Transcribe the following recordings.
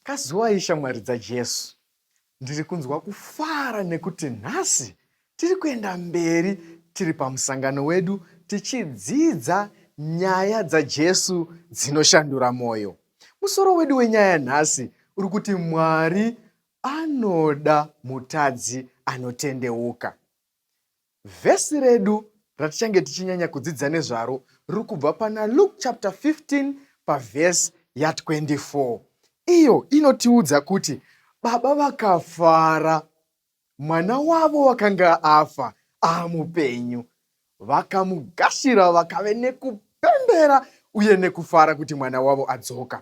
Kazuwai shamwari dzaJesu, Ndiri kunzwa kufara nekuti nhasi tiri kuenda mberi tiri pamusangano wedu tichidzidza nyaya dzaJesu dzinoshandura mwoyo. Musoro wedu wenyaya nhasi uri kuti Mwari anoda mutadzi anotendeuka. Vhesi redu ratichange tichinyanya kudzidza nezvaro riri kubva pana Luke chapter 15 pavhesi ya 24 iyo inotiudza kuti baba vakafara mwana wavo wakanga afa ava mupenyu, vakamugashira vakave nekupembera uye nekufara kuti mwana wavo adzoka.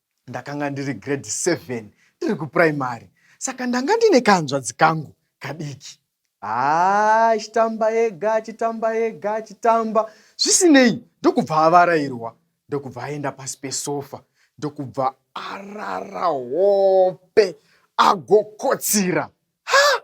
Ndakanga ndiri grade 7 ndiri kupuraimari saka ndanga ndine kanzvadzi kangu kadiki. Haa achitamba ega achitamba ega achitamba zvisinei ndokubva avarairwa ndokubva aenda pasi pesofa ndokubva arara hope agokotsira. Ha!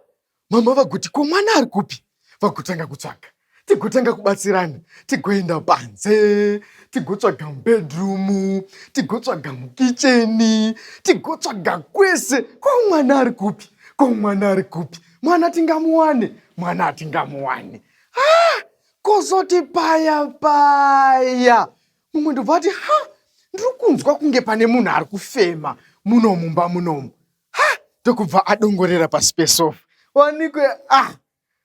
mama vaguti ko mwana ari kupi vagotanga kutsvaga tigotanga kubatsirana tigoenda panze tigotsvaga mubedroom tigotsvaga mukicheni tigotsvaga kwese ko mwana ari kupi ko mwana ari kupi mwana tingamuwane mwana atingamuwane ha kozoti paya paya mumwe ndobva ati ha ndiri kunzwa kunge pane munhu ari kufema muno mumba munomu ndokubva adongorera pasi pesofa wanikwe ah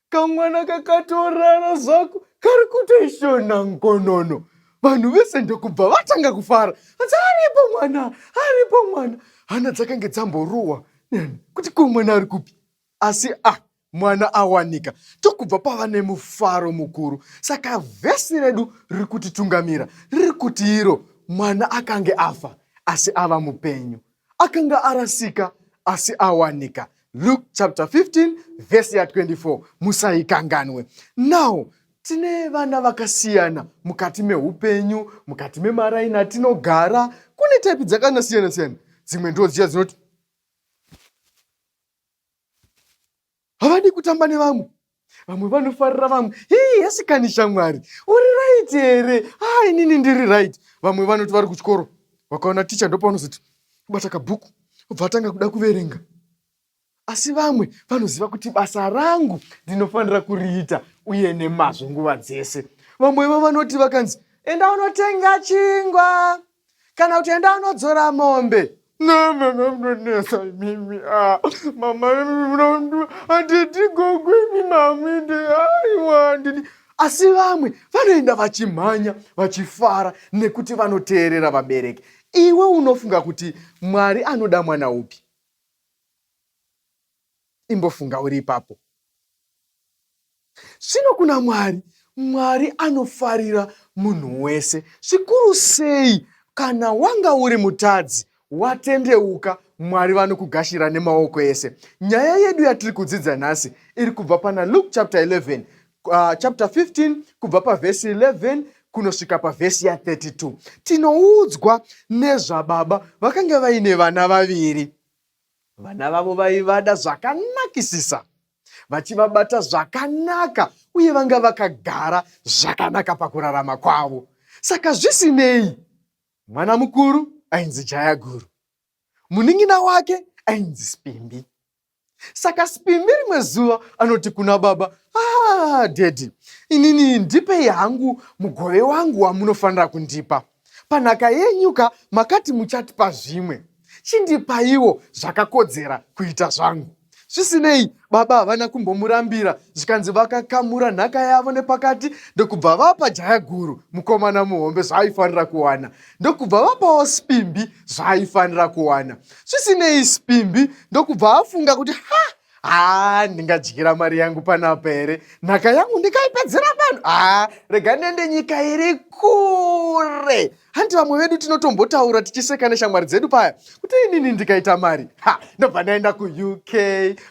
kamwana kakatorara zvako kari kutoishona nkonono vanhu vese ndokubva vatanga kufara asi aripo mwana aripo mwana hana dzakange dzamboruwa nani kuti ko mwana ari kupi asi a ah, mwana awanika tokubva pava nemufaro mukuru saka vhesi redu riri kutitungamira riri kuti iro mwana akange afa asi ava mupenyu akanga arasika asi awanika luke chapter 15 vhesi ya 24 musaikanganwe now tine vana vakasiyana mukati meupenyu mukati memaraini atinogara kune taipi dzakanasiyana siyana dzimwe ndodziya dzinoti havadi kutamba nevamwe vamwe vanofarira vamwe hii asikani shamwari uri right here haa inini ndiri right vamwe vanoti vari kuchikoro vakaona ticha ndopavanozoti kubata kabhuku obva atanga kuda kuverenga asi vamwe vanoziva kuti basa rangu ndinofanira kuriita uye nemazvo nguva dzese vamwevo vanoti vakanzi enda unotenga chingwa kana kuti enda anodzora mombe no mama munonetsa imimi ah, mama handidi gogo imi maminde aiwa handidi asi vamwe vanoenda vachimhanya vachifara nekuti vanoteerera vabereki iwe unofunga kuti mwari anoda mwana upi Imbofunga uri ipapo. Zvino kuna Mwari, Mwari anofarira munhu wese, zvikuru sei kana wanga uri mutadzi, watendeuka, Mwari vanokugashira nemaoko ese. Nyaya yedu yatiri kudzidza nhasi iri kubva pana Luke chapter 11, uh, chapter 15 kubva pavhesi 11 kunosvika pavhesi ya32. Tinoudzwa nezvababa vakanga vaine vana vaviri. Vana vavo vaivada zvakanakisisa, vachivabata zvakanaka uye vanga vakagara zvakanaka pakurarama kwavo. Saka zvisinei, mwana mukuru ainzi Jayaguru, munin'ina wake ainzi Spimbi. Saka Spimbi rimwe zuva anoti kuna baba, ah, dhedhi, inini ndipei hangu mugove wangu wamunofanira kundipa. Panhaka yenyu ka makati muchatipa zvimwe. Chindipaiwo zvakakodzera kuita zvangu. Zvisinei, baba havana kumbomurambira zvikanzi vakakamura nhaka yavo nepakati ndokubva vapa jaya guru mukomana muhombe zvaaifanira kuwana ndokubva vapawo Spimbi zvaaifanira kuwana. Zvisinei, Spimbi ndokubva afunga kuti ha haa ndingadyira mari yangu panapa here nhaka yangu ndikaipedzera vanhu haa rega ndiende nyika iri kure hanti vamwe vedu tinotombotaura tichiseka neshamwari dzedu paya kuti inini ndikaita mari ha ndobva ndaenda kuuk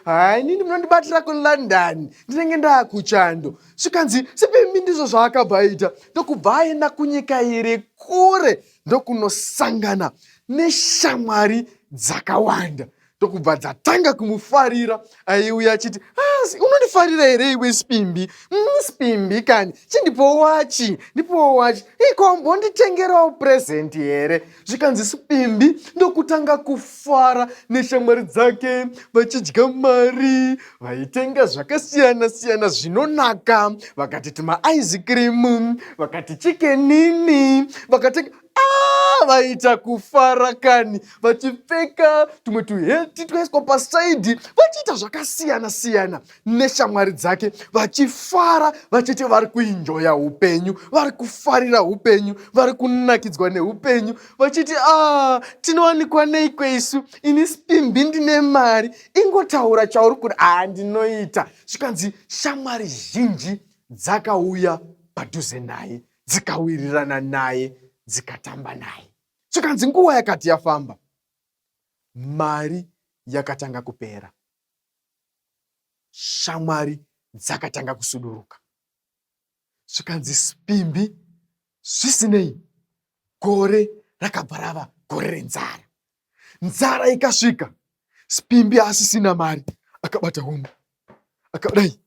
haa inini munondibatira kulondon ndinenge ndaakuchando zvikanzi sipimi ndizvo zvaakabva aita ndokubva aenda kunyika iri kure ndokunosangana neshamwari dzakawanda ndokubva dzatanga kumufarira aiuya achiti ah, unondifarira here iwe spimbi mm, spimbi kani chindipowo wachi ndipowo wachi ikombonditengerawo purezendi here zvikanzi spimbi ndokutanga kufara neshamwari dzake vachidya mari vaitenga zvakasiyana siyana zvinonaka vakati tuma aizikirimu vakati chikenini vakatenga Ah, vaita kufara kani vachipfeka tumwe tuheti twaiswa pasaidhi vachiita zvakasiyana siyana neshamwari dzake vachifara vachiti vari kuinjoya upenyu vari kufarira upenyu vari kunakidzwa neupenyu vachiti a ah, tinowanikwa nei kweisu ini spimbi ndine mari ingotaura chauri kuti a ah, ndinoita zvikanzi shamwari zhinji dzakauya padhuze naye dzikawirirana naye dzikatamba naye zvikanzi nguva yakati yafamba mari yakatanga kupera shamwari dzakatanga kusuduruka zvikanzi spimbi zvisinei gore rakabva rava gore renzara nzara ikasvika Spimbi asisina mari akabata hungu akadai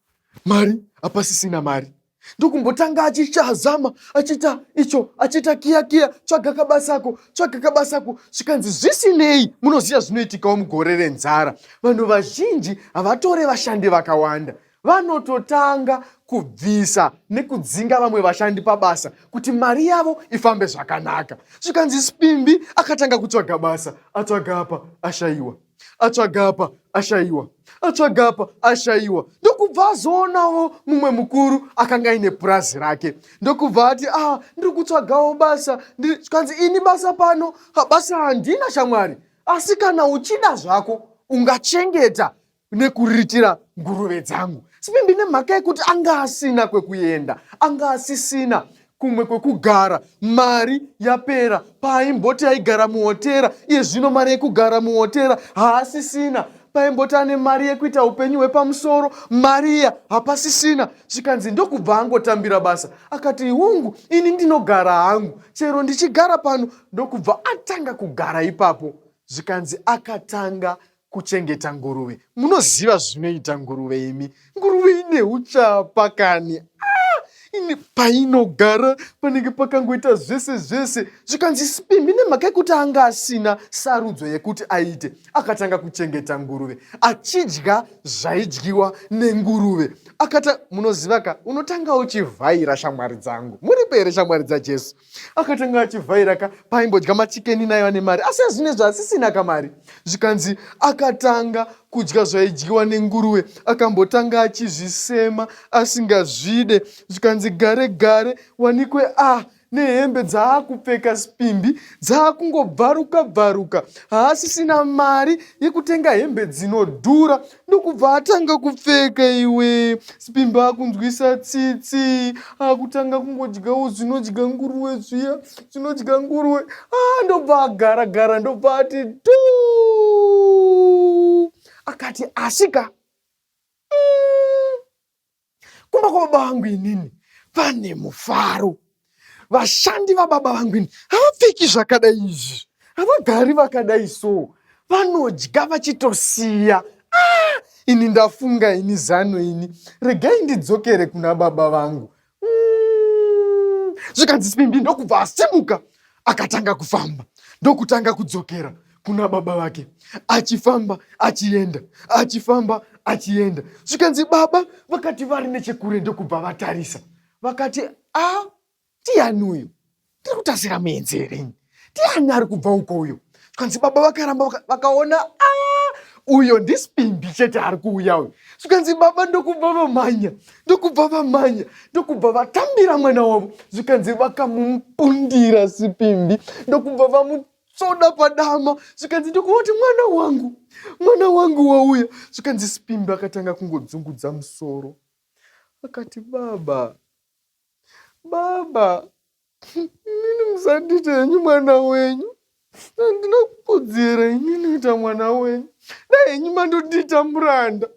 mari apasisina mari ndokumbotanga achichazama achiita icho achiita kiya kiya tsvaga kabasako tsvaga kabasako zvikanzi zvisinei munoziva zvinoitikawo mugore renzara vanhu vazhinji havatore vashandi vakawanda vanototanga kubvisa nekudzinga vamwe vashandi pabasa kuti mari yavo ifambe zvakanaka zvikanzi spimbi akatanga kutsvaga basa atsvaga apa ashayiwa atsvaga apa ashayiwa atsvaga apa ashayiwa ndokubva azoonawo mumwe mukuru akanga aine purazi rake ndokubva ati ah ndiri kutsvagawo basa zvikanzi ini basa pano basa handina shamwari asi kana uchida zvako ungachengeta nekuriritira nguruve dzangu sipindi nemhaka yekuti anga asina kwekuenda anga asisina kumwe kwekugara mari yapera paaimboti aigara muhotera iye zvino mari yekugara muhotera haasisina paimboti ane mari yekuita upenyu hwepamusoro mari iya hapasisina zvikanzi ndokubva angotambira basa akati hungu ini ndinogara hangu chero ndichigara pano ndokubva atanga kugara ipapo zvikanzi akatanga kuchengeta nguruve munoziva zvinoita nguruve imi nguruve ine uchapa kani ah, ine painogara panenge pakangoita zvese zvese zvikanzi sipimbi nemhaka yekuti anga asina sarudzo yekuti aite akatanga kuchengeta nguruve achidya zvaidyiwa nenguruve akata munoziva ka unotanga uchivhaira shamwari dzangu muripo here shamwari dzajesu akatanga achivhaira ka paimbodya machikeni nayo ane mari asi azvine zvaasisina ka mari zvikanzi akatanga kudya zvaidyiwa nenguruve akambotanga achizvisema asingazvide zvikanzi gare gare wanikwe a ah, nehembe dzaakupfeka spimbi dzaakungobvaruka bvaruka haasisina mari yekutenga hembe dzinodhura ndokubva atanga kupfeka iwe sibimba akunzwisa tsitsi akutanga kungodyawo zvinodya nguruwe zviya zvinodya nguruwe ah, ndobva agara gara ndobva ati tu akati asika mm. kumba kwababa vangu inini pane mufaro vashandi vababa vangu ini havapfeki zvakadai izvi havagari vakadai so vanodya vachitosiya ah, ini ndafunga ini zano ini regai ndidzokere kuna baba vangu mm. zvikanzi simbi ndokubva asimuka akatanga kufamba ndokutanga kudzokera kuna baba vake achifamba achienda achifamba achienda zvikanzi baba vakati vari nechekure ndokubva vatarisa vakati a ndiani uyu tiri kutasira muenzi here ini ndiani ari kubva uko uyo zvikanzi baba vakaramba vakaona a uyo ndispimbi chete ari kuuya uyo zvikanzi baba ndokubva vamhanya ndokubva vamhanya ndokubva vatambira mwana wavo zvikanzi vakamupundira sipimbi ndokubva vamu tsoda padama zvikanzi ndikuoti mwana wangu mwana wangu wauya zvikanzi spimbi akatanga kungodzungudza musoro akati baba baba inini musandiita henyu mwana wenyu handina kukudzira inini kuita mwana wenyu dai henyu mandondiita muranda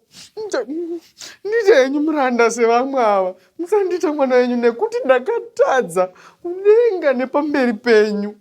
ndiita henyu muranda sevamwe ava musandiita mwana wenyu nekuti ndakatadza kudenga nepamberi penyu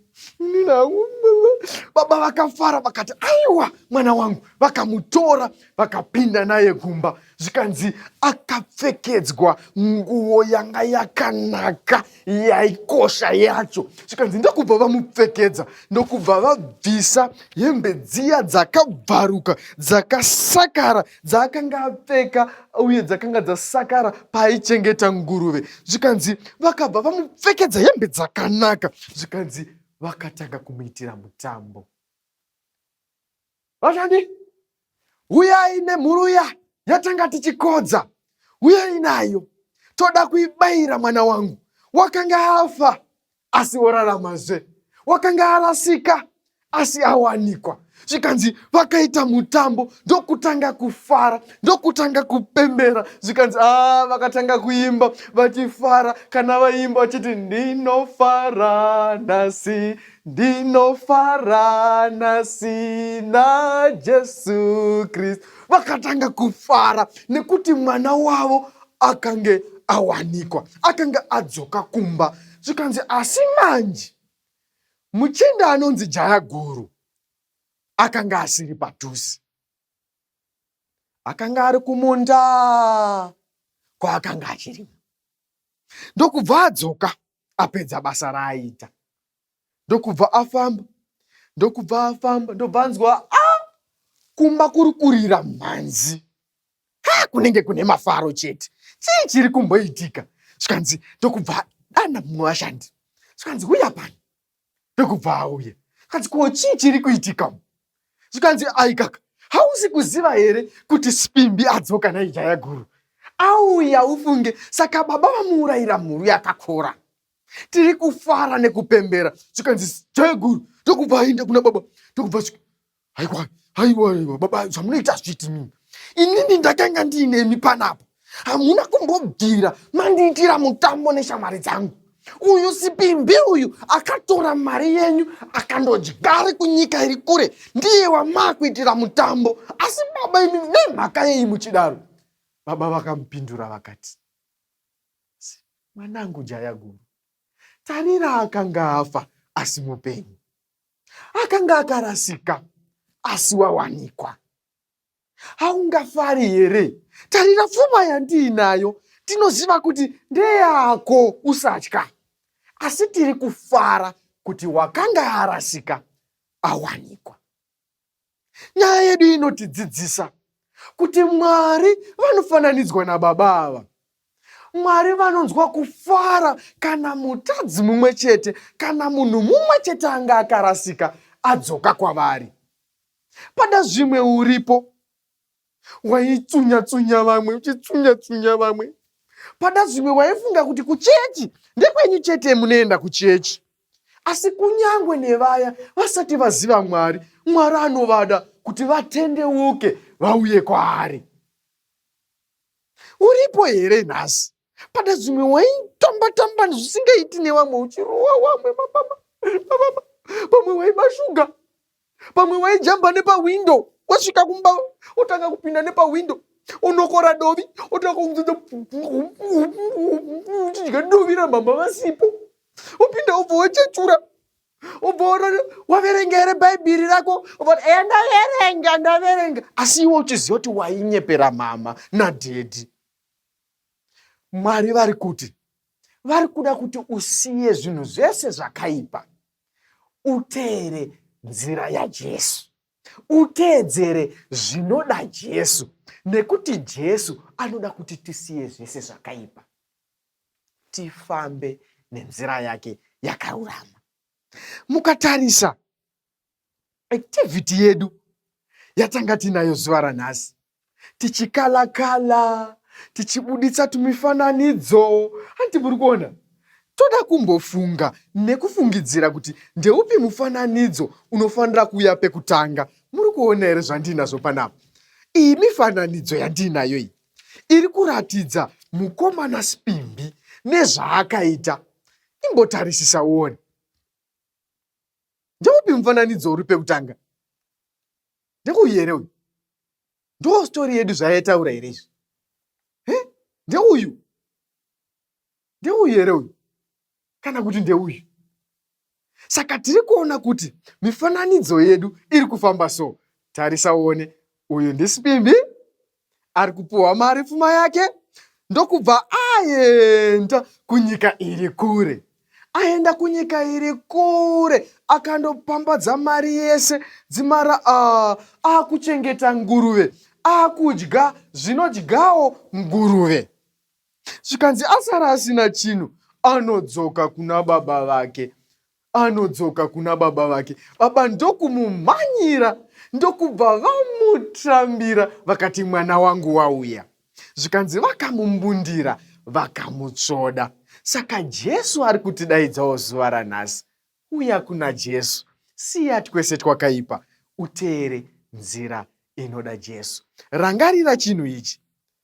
Baba vakafara vakati, aiwa mwana wangu. Vakamutora vakapinda naye kumba, zvikanzi akapfekedzwa nguo yanga yakanaka yaikosha yacho, zvikanzi ndokubva vamupfekedza, ndokubva vabvisa hembe dziya dzakabvaruka dzakasakara dzaakanga apfeka uye dzakanga dzasakara paaichengeta nguruve zvikanzi vakabva vamupfekedza hembe dzakanaka zvikanzi vakatanga kumuitira mutambo vashandi huyai nemhuru ya yatanga tichikodza huyai nayo toda kuibayira mwana wangu wakanga afa asi woraramazve. Wakanga arasika asi awanikwa zvikanzi vakaita mutambo ndokutanga kufara ndokutanga kupembera zvikanzi a vakatanga kuimba vachifara kana vaimba vachiti ndinofara nhasi ndinofara nhasi najesu kristu vakatanga kufara nekuti mwana wavo akange awanikwa akange adzoka kumba zvikanzi asi manje muchinda anonzi jaya guru akanga asiri padhuze akanga ari kumunda kwaakanga achirima ndokubva adzoka apedza basa raaita ndokubva afamba ndokubva afamba ndobva anzwa a ah! kumba kuri kurira mhanzi ka kunenge kune mafaro chete chii chiri kumboitika zvikanzi ndokubva dana mumwe vashandi zvikanzi huya pani ndokubva auya zvikanzi ko chii chiri kuitika zvikanzi aikaka hausi kuziva here kuti spimbi adzoka naijaya guru auya ufunge saka baba vamuurayira mhuru yakakora tiri kufara nekupembera zvikanzi cheguru tokubva aenda kuna baba tokubva haiwa haiwa haiwa baba zvamunoita zviti mimi inini ndakanga ndiinemi panapa hamuna kumbobvira mandiitira mutambo neshamwari dzangu uyu sipimbi uyu akatora mari yenyu akandodyari kunyika iri kure ndiye wamaakuitira mutambo asi baba imi nemhaka yei muchidaro baba vakamupindura vakati Mwanangu jaya guru, tarira akanga afa asi mupenyu, akanga akarasika asi wawanikwa. Haungafari here? Tarira pfuma yandiinayo, tinoziva kuti ndeyako, usatya. Asi tiri kufara kuti wakanga arasika awanikwa. Nyaya yedu inotidzidzisa kuti Mwari vanofananidzwa nababa ava. Mwari vanonzwa kufara kana mutadzi mumwe chete kana munhu mumwe chete anga akarasika adzoka kwavari. Pada zvimwe uripo waitsunya tsunya vamwe uchitsunya tsunya vamwe pada zvimwe waifunga kuti kuchechi ndekwenyu chete munoenda kuchechi asi kunyangwe nevaya vasati vaziva mwari mwari anovada kuti vatendeuke vauye kwaari uripo here nhasi pane zvimwe waitamba tamba zvisingaiti nevamwe uchirowa wamwe mapama mapama pamwe waiba shuga pamwe waijamba nepahwindo wasvika kumba otanga kupinda nepahwindo unokora dovi otanga kunzidza uchidya dovi ramama vasipo upinda ubva wachechura ubva waverenga here bhaibhiri rako uvati eya ndaverenga ndaverenga asi iwe uchiziva kuti wainyepera mama nadhedhi Mwari vari kuti vari kuda kuti usiye zvinhu zvese zvakaipa uteere nzira yaJesu, uteedzere zvinoda Jesu, nekuti Jesu anoda kuti tisiye zvese zvakaipa, tifambe nenzira yake yakarurama. Mukatarisa activity yedu yatanga tinayo zuva ranhasi tichikalakala tichibuditsa tumifananidzo hanti muri kuona toda kumbofunga nekufungidzira kuti ndeupi mufananidzo unofanira kuuya pekutanga muri kuona here zvandiinazvo panapa iyi mifananidzo yandiinayo iyi iri kuratidza mukomana spimbi nezvaakaita imbotarisisa uone ndeupi mufananidzo uri pekutanga ndeuyu here uyu ndoo story yedu zvayaitaura here izvi he ndeuyu ndeuyu here uyu kana kuti ndeuyu saka tiri kuona kuti mifananidzo yedu iri kufamba so tarisa uone uyu ndisipimbi ari kupiwa mari pfuma yake ndokubva aenda kunyika iri kure aenda kunyika iri kure akandopambadza mari yese dzimara ah, akuchengeta uh, nguruve akudya zvinodyawo nguruve zvikanzi asara asina chinhu anodzoka kuna baba vake Anodzoka kuna baba vake, baba ndokumumhanyira ndokubva vamutrambira vakati mwana wangu wauya. Zvikanzi vakamumbundira vakamutsvoda. Saka Jesu ari kutidaidzawo zuva ranhasi. Uya kuna Jesu, siya twese twakaipa, uteere nzira inoda Jesu. Rangarira chinhu ichi,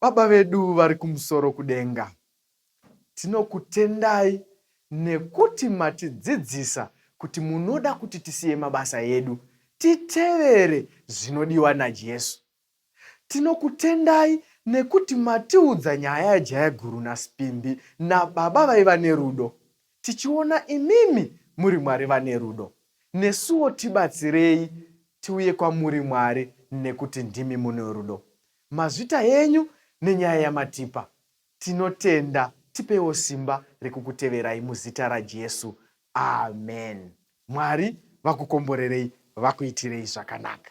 Baba vedu vari kumusoro kudenga, tinokutendai nekuti matidzidzisa kuti munoda kuti tisiye mabasa edu titevere zvinodiwa naJesu. Tinokutendai nekuti matiudza nyaya yaJayaguru naSipimbi nababa vaiva nerudo. Tichiona imimi muri Mwari vane rudo, nesuwo tibatsirei tiuye kwamuri Mwari nekuti ndimi mune rudo. Mazvita henyu nenyaya yamatipa tinotenda tipeiwo simba rekukuteverai muzita raJesu amen Mwari vakukomborerei vakuitirei zvakanaka.